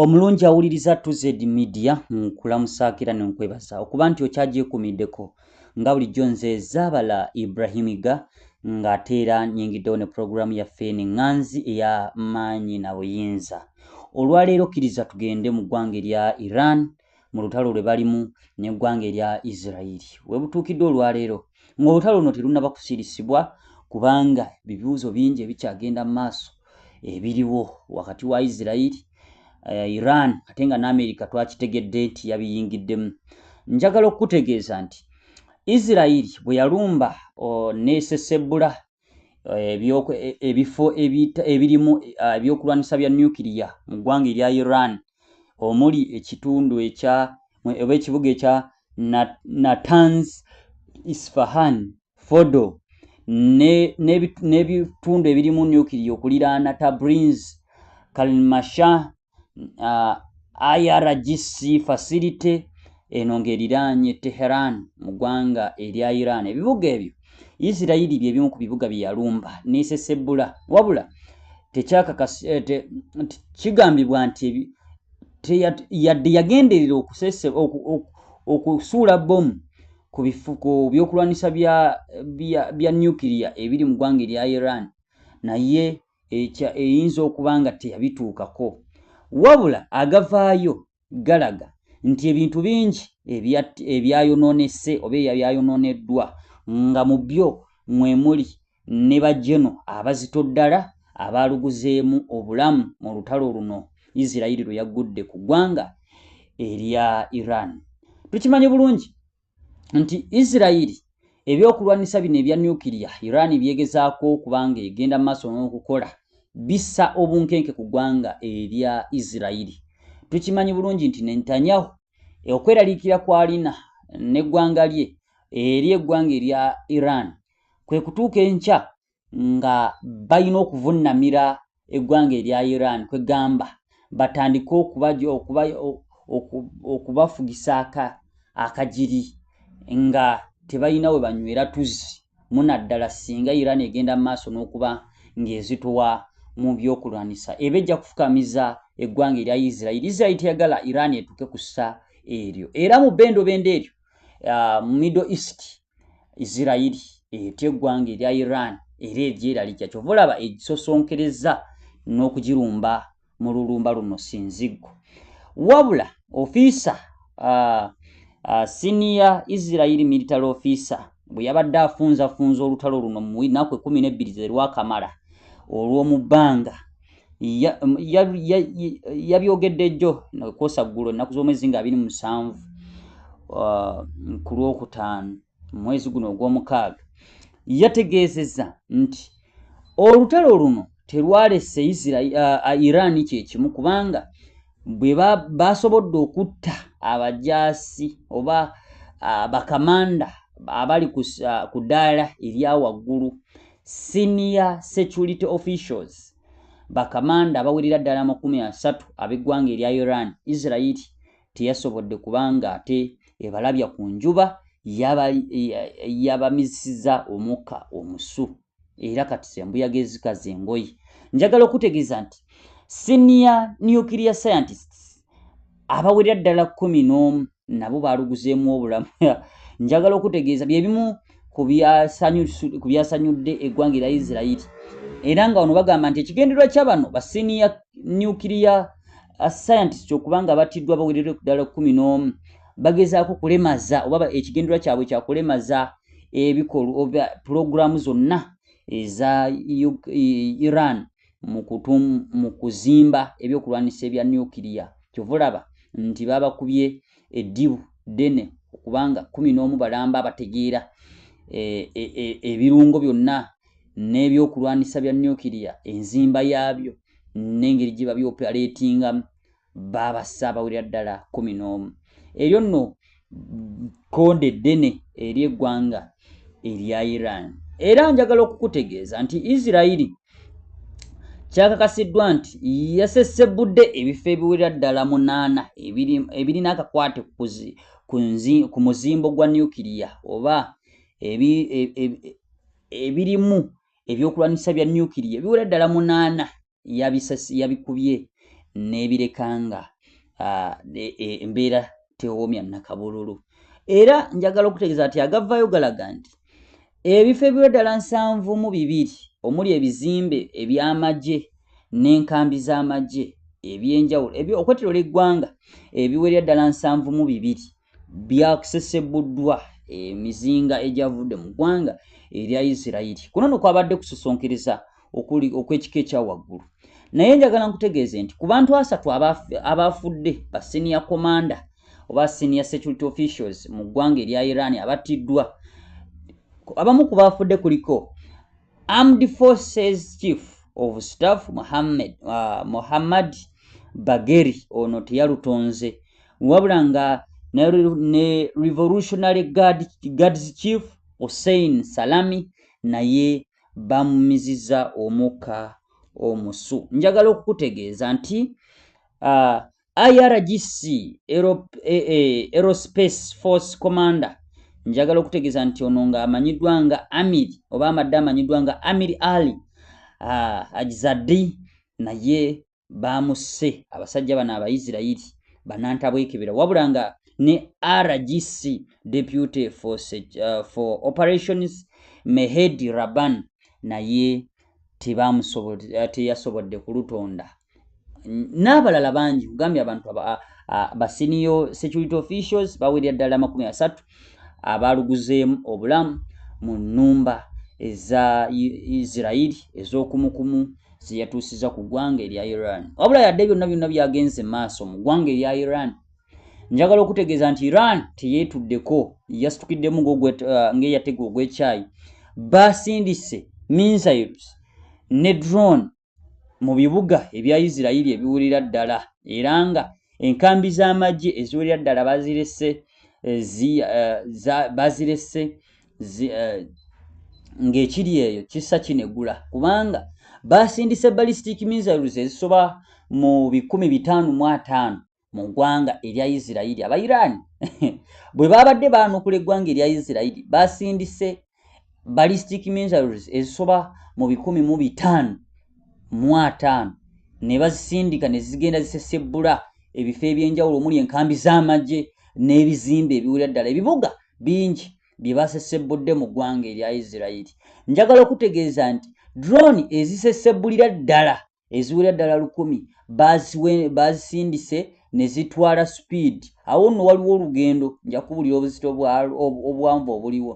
Omulungi awuliriza TZ Media nkulamusaakira ne nkwebaza okuba nti okyagyekuumiddeko nga bulijjo nze Zaabala Ibrahimiga ng'ate era nyingiddewo ne pulogulaamu yaffe eno eŋŋanzi eya maanyi na buyinza. Olwaleero kkiriza tugende mu ggwanga erya Iran mu lutalo lwe balimu n'eggwanga erya Isiraeri we butuukidde olwaleero ng'olutalo luno terunnaba kusirisibwa kubanga bibuuzo bingi ebikyagenda mu maaso ebiriwo wakati wa Isiraeri eh, Iran ate nga n'Amerika twakitegedde nti yabiyingiddemu njagala okukutegeeza nti Isiraeri bwe yalumba oh, neesesebbula eh, eh, ebifo ebirimu ah, ebyokulwanyisa bya nuclear mu ggwanga erya iran omuli ekitundu ekya oba ekibuga ekya natans isfahan fodo n'ebitundu ebirimu nuclear okuliraana tabrins kalmasha uh, IRGC facility eno ng'eriraanye Teheran mu ggwanga erya Iran. Ebibuga ebyo Isirayiri bye bimu ku bibuga bye yalumba n'esesebbula wabula eh, kigambibwa nti yadde yagenderera okusuula bbomu ku bifuko byokulwanyisa bya nuclear ebiri mu ggwanga erya Iran naye ekya eyinza okuba nga teyabituukako wabula agavaayo galaga nti ebintu bingi ebyayonoonese oba ebyayonooneddwa nga mu byo mwe muli ne bajeno abazito ddala abaaluguzeemu obulamu mu lutalo luno Isiraeri lwe yaggudde ku ggwanga erya Iran. Tukimanyi bulungi nti isirairi ebyokulwanyisa bino ebya nukiria iran byegezaako okuba nga egenda maaso n'okukola bissa obunkenke ku ggwanga erya isirairi tukimanyi bulungi nti nentanyahu okweraliikira kwalina n'eggwanga lye eri eggwanga erya iran kwe kutuuka enkya nga balina okuvunnamira eggwanga erya Iran kwe gamba batandike okubafugisa akagiri nga tebalina we banywera tuzzi munaddala singa Iran egenda mu maaso n'okuba ng'ezitowa mu byokulwanyisa eba ejja kufukamiza eggwanga erya Israel. Israel teyagala Iran etuuke ku ssa eryo era mu bendobendo eryo uh, middle east isirairi etya eggwanga erya iran era eryeralikya kyova olaba egisosonkereza n'okugirumba mu lulumba luno sinziggo wabula ofiisa uh, uh, senior isirairi military officer bwe yabadde afunzafunza olutalo luno mu naku ekumi n'ebbiri zerwakamala olw'omu bbanga yabyogedde jjo kwosa ggulo ennaku z'omwezi nga abiri musanvu uh, ku lwokutaano mu mwezi guno ogw'omukaaga yategeezeza nti olutalo luno terwalese uh, iran kyekimu kubanga bwe basobodde okutta abajaasi oba uh, bakamanda abali ku ddaala erya waggulu Senior security officials, bakamanda abawerera ddala amakumi asatu ab'eggwanga erya Iran, Israel teyasobodde kuba ng'ate ebalabya ku njuba yabamizisiza omukka omusu era kati zembuyaga ezikaza engoye. Njagala okutegeeza nti senior nuclear scientists abawerera ddala kumi n'omu nabo baaluguzeemu obulamu njagala okutegeeza bye bimu ku byasanyudde eggwanga erya isirairi era nga wano bagamba nti ekigendererwa kya bano ba siniya nucleya uh, scientist okuba nga battiddwa bawerere ddala kumi n'omu bagezaako kulemaza oba ekigendererwa kyabwe kyakulemaza ebikolwa oba pulogulaamu zonna eza iran e, mu kuzimba ebyokulwanyisa ebya nuclear kyova olaba nti babakubye eddibu ddene okubanga kumi n'omu balamba abategeera eh, eh, eh, ebirungo byonna n'ebyokulwanyisa bya nuclear enzimba yaabyo n'engeri gye babyopereetingamu baaba ssaabawulira ddala kumi n'omu eryo nno kkonde ddene eri eggwanga erya iran era njagala okukutegeeza nti isirairi kyakakasiddwa nti yasesebbudde ebifo ebiwerera ddala munaana ebirina akakwate ku muzimbo gwa nuclear oba e, e, ebirimu ebyokulwanyisa bya nuclear ebiwerera ddala munaana yabikubye n'ebireka nga e, e, embeera tewoomya nakabululu era njagala okutegeeza nti agavayo galaga nti ebifo ebiwe ddala nsanvu mu bibiri omuli ebizimbe eby'amagye n'enkambi z'amagye ebyenjawulo okwetolola eggwanga ebiwerera ddala nsanvu mu bibiri byakusesebuddwa emizinga egyavudde mu ggwanga erya isirairi kuno no kwabadde kusosonkiriza okuli okw'ekika ekya waggulu naye njagala nkutegeeze nti ku bantu asatu abaafudde ba senior commander oba senior security officials mu ggwanga erya iran abattiddwa abamu ku baafudde kuliko Armed Forces Chief of Staff Mohammed, uh, Mohammad Bagheri ono teyalutonze wabula nga ne, ne Revolutionary Guard, Guards Chief Hussein Salami naye bamumiziza omukka omusu. Njagala okukutegeeza nti uh, IRGC Aerospace Force Commander njagala okutegeza nti ono nga amanyiddwa nga Amir oba amadde amanyiddwa nga Amir Ali ah, Ajzadi naye baamusse abasajja bano Abaisirayiri banantabwekebera wabula nga ne RGC Deputy for, uh, for Operations Mehedi Raban naye teyasobodde kulutonda n'abalala bangi kugambye abantu basiniyo security officials bawerera ddala amakumi asatu abaaluguzeemu obulamu mu nnumba eza isirairi ez'okumukumu zeyatuusiza ku ggwanga erya iran wabula yadde byonna byonna byagenze maaso mu ggwanga erya iran njagala okutegeeza nti iran teyeetuddeko yasitukiddemu uh, ng'eyatega ogw'ekyayi basindise missiles ne drone mu bibuga ebya Isirayiri ebiwerera ddala era nga enkambi z'amagye eziwerera ddala bazirese eh, eh, bazirese eh, ng'ekiri eyo kissa kinegula kubanga baasindise ballistic missiles ezisoba mu bikumi bitaano mu ataano mu ggwanga erya isirairi aba iran bwe baabadde baanukula eggwanga erya isirairi basindise ballistic minerals ezisoba mu bikumi mu bitaano mu ataano ne bazisindika ne zigenda zisesebbula ebifo eby'enjawulo omuli enkambi z'amagye n'ebizimbe ebiwulira ddala ebibuga bingi bye basesebbudde mu ggwanga erya isirairi njagala okutegeeza nti drone ezisesebbulira ddala eziwera ddala lukumi baazisindise ne zitwala sipiidi awo nno waliwo olugendo nja kubulira obuzito obuwanvu obuliwo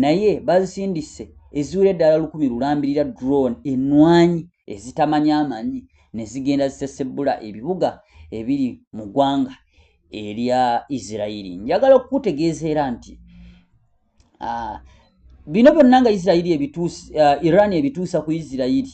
naye baazisindise eziwera eddala lukumi lulambirira drone enwanyi ezitamanya amanyi ne zigenda zisesebbula ebibuga ebiri mu ggwanga erya isirairi njagala okukutegeeza era nti ah, bino byonna nga isirairi ebituusa ah, iran ebituusa ku isirairi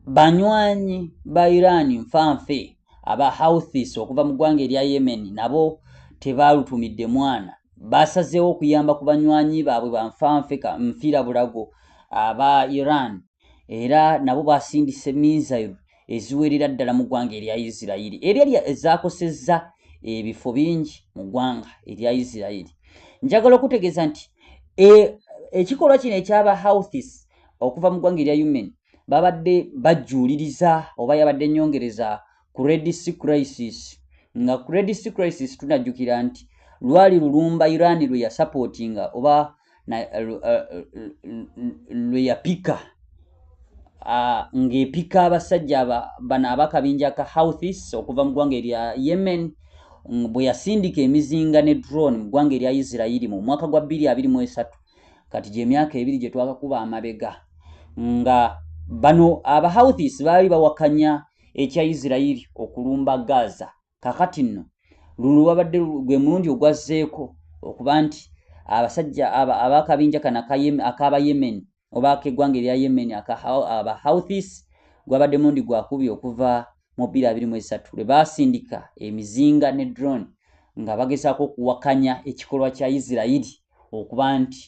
banywanyi ba iran nfanfe aba houthis okuva mu ggwanga erya yemen nabo tebaalutumidde mwana baasazeewo okuyamba ku banywanyi baabwe banfanfe nfiira bulago aba iran era nabo basindise misail eziwerera ddala mu ggwanga erya isirairi era erya ezakosezza ebifo bingi mu ggwanga erya isirairi njagala okutegeeza nti e, ekikolwa kino ekyaba houthis okuva mu ggwanga erya human babadde bajjuuliriza oba yabadde nyongereza credit crisis nga credit crisis tunajjukira nti lwali lulumba iran lwe yasupportinga oba lwe yapika ng'epika abasajja bano abakabinja ka houthis okuva mu ggwanga erya yemen bwe yasindika emizinga ne drone mu ggwanga erya isirairi mu mwaka gwa 223 kati gyemyaka ebiri gye twakakuba amabega nga bano abahouthis baali bawakanya ekya isirairi okulumba gaza kakati nno luno lwabadde gwe mulundi ogwazzeeko okuba nti abasajja abakabinja kano akaba yemen oba akeggwanga erya yemen aba houthis gwabadde mulundi gwakubi okuva mu bbiri abiri mu esatu lwe baasindika emizinga ne drone nga bagezaako okuwakanya ekikolwa kya isirairi okuba nti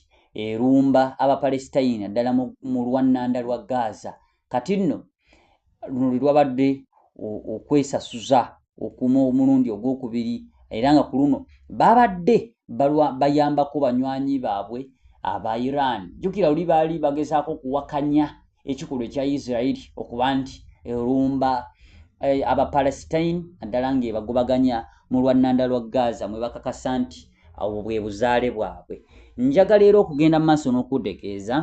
erumba abapalestine ddala mu lwannanda lwa gaza kati nno luno lwe lwabadde okwesasuza okuma omulundi ogwokubiri era nga ku luno babadde bayambako banywanyi baabwe aba iran jjukira luli baali bagezaako okuwakanya ekikolwa ekya isirairi okuba nti erumba eh, abapalestine naddala ng'ebagobaganya mu lwannanda lwa gaza mwe bakakasa nti awo bwe buzaale bwabwe njagala era okugenda mu maaso n'okutegeeza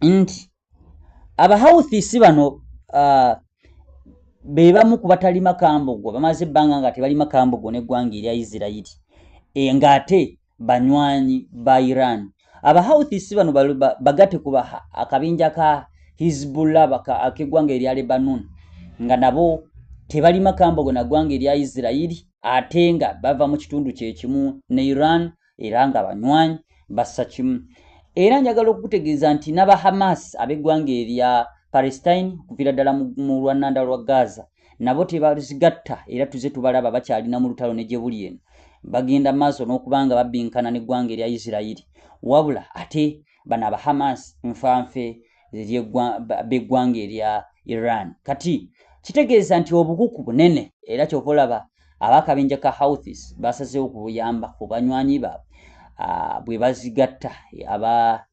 nti abahawuthisi bano uh, be bamu ku batalima kambogo bamaze ebbanga nga tebalima kambogo n'eggwanga erya isirairi e, ng'ate banywanyi ba iran abahawuthisi bano bagate ku akabinja ka hizbullah ak'eggwanga erya lebanon nga nabo tebalima kambogo na ggwanga erya isirairi ate nga bava mu kitundu kye kimu ne iran era nga banywanyi bassa kimu era njagala okukutegeeza nti naba hamas ab'eggwanga erya palestine okuviira ddala mu lwannanda lwa gaza nabo tebazigatta era tuze tubalaba bakyalina mu lutalo ne gye buli eno bagenda maaso n'okuba nga babbinkana n'eggwanga erya isirairi wabula ate bano aba hamas nfanfe b'eggwanga erya iran kati kitegeeza nti obukuku bunene era kyova olaba abakabinja ka houthis basazeewo kubuyamba ku banywanyi baabwe ah, bwe bazigatta aba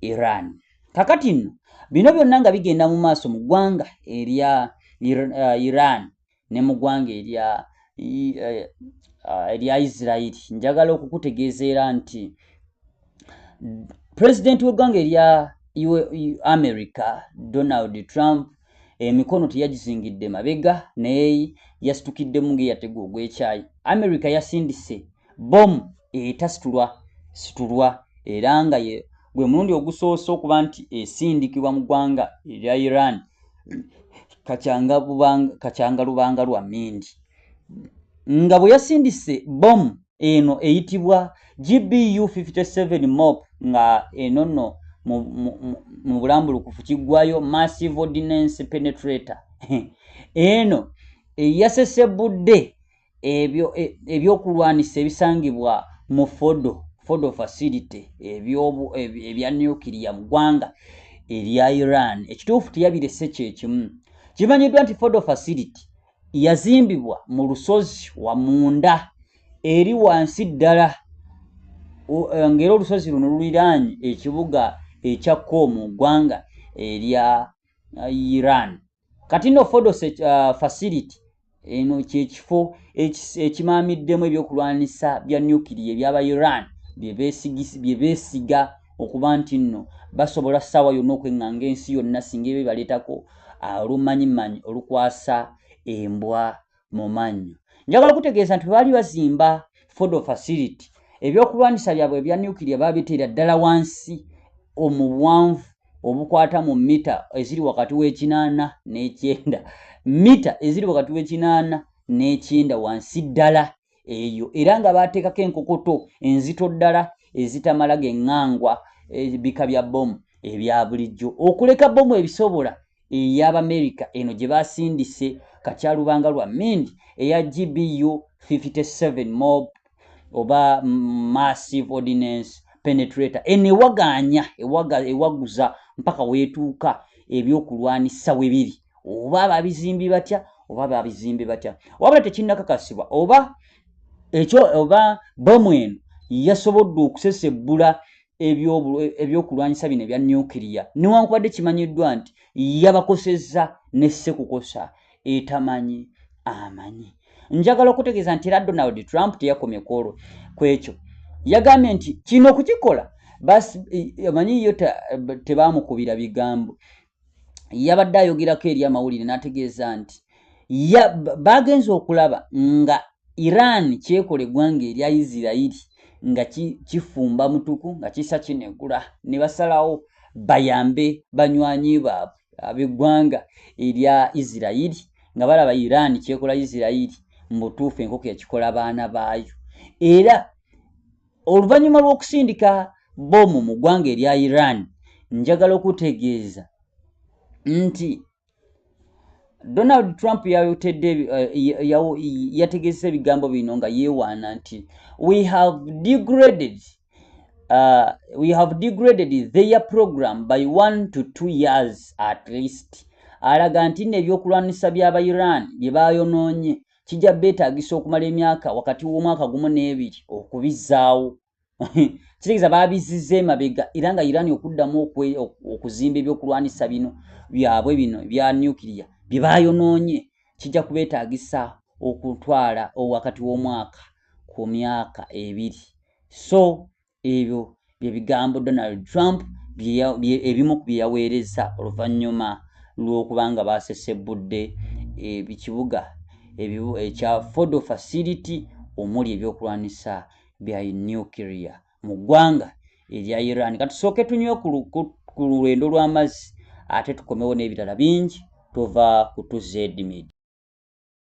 iran kakati nno bino byonna nga bigenda mu maaso mu ggwanga erya uh, iran ne mu ggwanga erya eh, ah, erya isirairi njagala okukutegeezeera nti pulezidenti w'eggwanga erya america donald trump emikono teyagizingidde mabega naye yasitukiddemu ngaeyategewa ogwekyayi america yasindise Bbomu etasitulwa situlwa era nga ye gwe mulundi ogusoose okuba nti esindikibwa mu ggwanga erya Iran kakyanga lubanga lwa mindi nga bwe yasindise bbomu eno eyitibwa GBU 57 mop nga eno nno mu bulambulukufu kiggwayo massive ordinance penetrator eno eyasesebbudde ebyo e, ebyokulwanisa ebisangibwa mu fodo fodo facility ebyobu ebya nuclear mu ggwanga erya iran ekituufu teyabirese kyekimu kimanyiddwa nti fodo facility yazimbibwa mu lusozi wamunda eri wansi ddala eh, ngaera olusozi luno luliraanyi ekibuga ekya koomu ggwanga erya eh, iran kati no fodos uh, facility eno kyekifo ekimaamiddemu ebyokulwanisa bya nuclear ebyaba iran byebesiga okuba nti nno basobola saawa yonna okweŋŋanga ensi yonna singa ebyo baleetako uh, olumanyimanyi olukwasa embwa mu mannyo. Njagala okutegeeza nti bwe baali bazimba Fordo facility, ebyokulwanyisa byabwe ebya nuclear baabiteera ddala wansi omuwanvu obukwata mu mita eziri wakati w'ekinaana n'ekyenda mita eziri wakati w'ekinaana n'ekyenda wansi ddala eyo era nga baateekako enkokoto enzito ddala ezitamala geŋŋangwa ebika eh, bya bbomu ebya bulijjo okuleka bbomu ebisobola ey'Abamerika eno gye baasindise kakyalubanga lwa Mind eya GBU 57 mob oba massive ordinance penetrator eno ewagaanya ewaguza mpaka weetuuka ebyokulwanisa we biri oba babizimbi batya oba babizimbi batya wabula tekinnakakasibwa oba ekyo oba bomu eno yasobodde okusesebbula ebyokulwanyisa bino ebya nuclear newankubadde kimanyiddwa nti yabakosezza nessekukosa etamanyi amanyi njagala okutegeeza nti era donald trump teyakomye kwolwo kwekyo yagambye nti kino okukikola omanyi yo tebamukubira bigambo yabadde ayogerako eri amawulire n'ategeeza nti baagenze okulaba nga iran kyekola eggwanga erya isirairi nga kifumba mutuku nga kisa kinegula ne basalawo bayambe banywanyi baabwe ab'eggwanga erya isirairi nga balaba iran kyekola isirairi mu butuufu enkoko yakikola baana baayo era Oluvanyuma lw'okusindika bbomu mu ggwanga erya Iran, njagala okutegeeza nti Donald Trump yayotedde eh, yategezesa ebigambo bino nga yeewaana nti we have degraded uh, we have degraded their program by one to two years at least alaga nti nno ebyokulwanyisa by'aba iran bye baayonoonye kijja beetaagisa okumala emyaka wakati w'omwaka gumu n'ebiri okubizzaawo kitegeeza baabizizza emabega era nga irani okuddamu okuzimba ebyokulwanyisa bino byabwe bino ebya nucleya bye baayonoonye kijja kubeetaagisa okutwala wakati w'omwaka ku myaka ebiri so ebyo bye bigambo donald trump ebimu ku bye yaweereza oluvannyuma lw'okuba nga baasesebbudde ekibuga ekya fodo facility omuli ebyokulwanyisa bya nuclear mu ggwanga erya iran katusooke tunywe ku lulwendo lw'amazzi ate tukomewo n'ebirala bingi tova ku tuzedmid